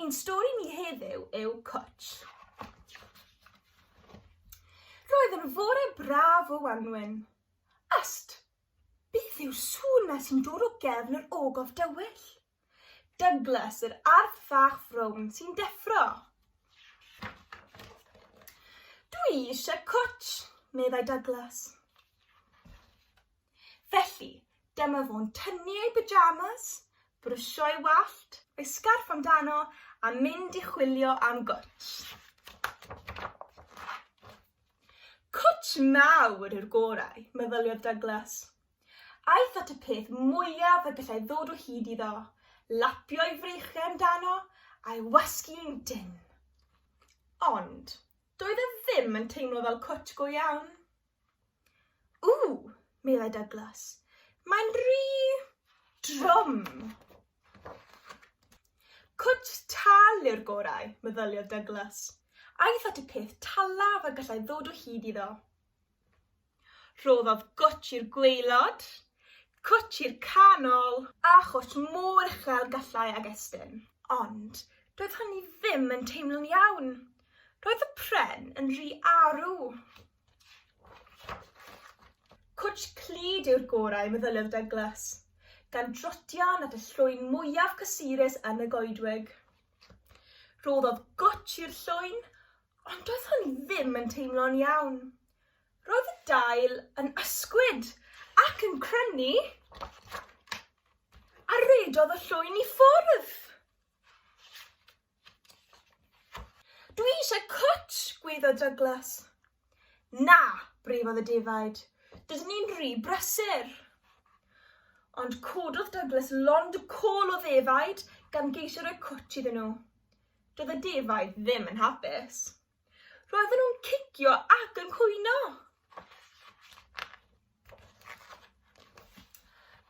Ein stori ni heddiw yw Cwtsh. Roedd yn fore braf o wanwyn. Ast! Beth yw sŵn na sy'n dod o gefn yr ogof dywyll? Douglas, yr arth fach frown sy'n deffro. Dwi eisiau cwtsh, meddai Douglas. Felly, dyma fo'n tynnu ei pyjamas, brwsio ei wallt, rhoi sgarff amdano a mynd i chwilio am gwtsh. Cwtsh mawr yw'r gorau, meddyliodd Douglas. Aeth at y peth mwyaf y gallai ddod o hyd iddo, lapio ei freichiau amdano a'i wasgu'n dynn. Ond doedd e ddim yn teimlo fel cwtsh go iawn. Ww, meddai Douglas, mae'n rhy drwm. Cwt tal yw'r gorau, meddyliodd Douglas. Aeth at y peth talaf a gallai ddod o hyd iddo. Rhoddodd gwt i'r gweilod, cwt i'r canol, a chwt mor uchel gallai ag estyn. Ond doedd hynny ddim yn teimlo'n iawn. Roedd y pren yn rhy arw. Cwtsh clyd yw'r gorau, meddyliwr Douglas, gan drotion at y llwyn mwyaf cysurus yn y goedwig. Rhoddodd gwtsh i'r llwyn, ond doedd hwn i ddim yn teimlo'n iawn. Roedd y dail yn ysgwyd ac yn crynu, a redodd y llwyn i ffwrdd. Dwi eisiau cwt, gweiddodd Douglas. Na, breifodd y defaid. Dydyn ni'n rhy brysur. Ond cododd Douglas lond y col o ddefaid gan geisio rhoi cwt iddyn nhw. Doedd y defaid ddim yn hapus. Roedden nhw'n cicio ac yn cwyno.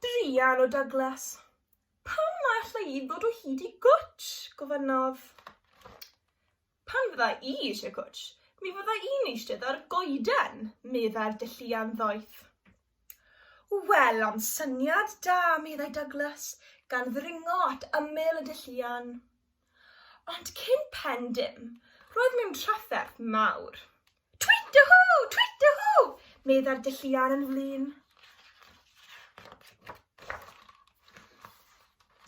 Druan o Douglas. Pam na alla i ddod o hyd i gwtsh? gofynnodd. Pan fydda i eisiau cwtsh, mi fydda i'n eistedd ar goeden, meddai'r dylluan ddoeth. Wel, am syniad da, meddai Douglas, gan ddringo at ymyl y dylluan. Ond cyn pen dim, roedd mewn trafferth mawr. Twit-a-hŵ! Twit-a-hŵ! meddai'r dylluan yn flin.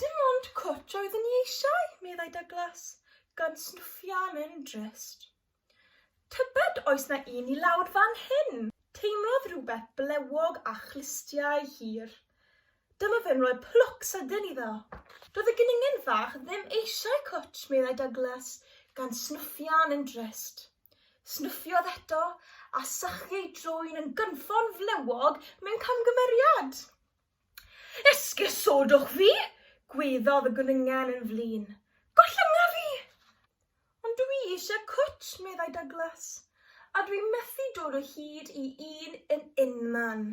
Dim ond cwt oedd yn i eisiau, meddai Douglas, gan snwffio am Endrest. Tybed oes na un i lawr fan hyn? Teimlodd rhywbeth blewog a chlustiau hir. Dyma fe'n rhoi plwc sydyn iddo. Doedd y geningen fach ddim eisiau cwt, meddai Douglas, gan snwffio am Endrest. Snuffiodd eto, a sychu ei drwyn yn gynffon flewog mewn camgymeriad. Esgusodwch fi! gweddodd y gwningen yn flin. Gollyngar i! Ond dw i eisiau cwt, meddai Douglas, a dw i methu dod o hyd i un yn unman.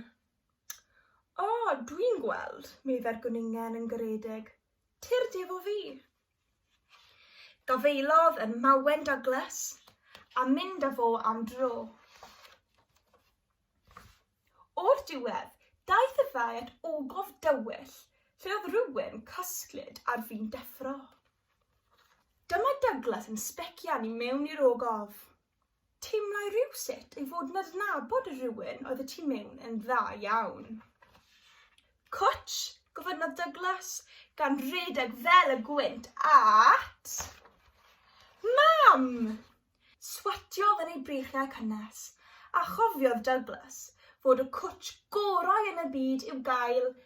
O, dw i'n gweld, meddai'r gwningen yn garedig. Tyrd efo fi. Gafaelodd y mawen Douglas a mynd â fo am dro. O'r diwedd, daeth y ddau at ogof dywyll lle oedd rhywun cysglyd ar fin deffro. Dyma Douglas yn sbecian i mewn i'r ogof. Teimlai rywsut ei fod yn adnabod y rhywun oedd y tu mewn yn dda iawn. Cwtsh, gofynnodd Douglas, gan redeg fel y gwynt at... Mam! Swatiodd yn ei breichiau cynnes, a chofiodd Douglas fod y cwtsh gorau yn y byd i'w gael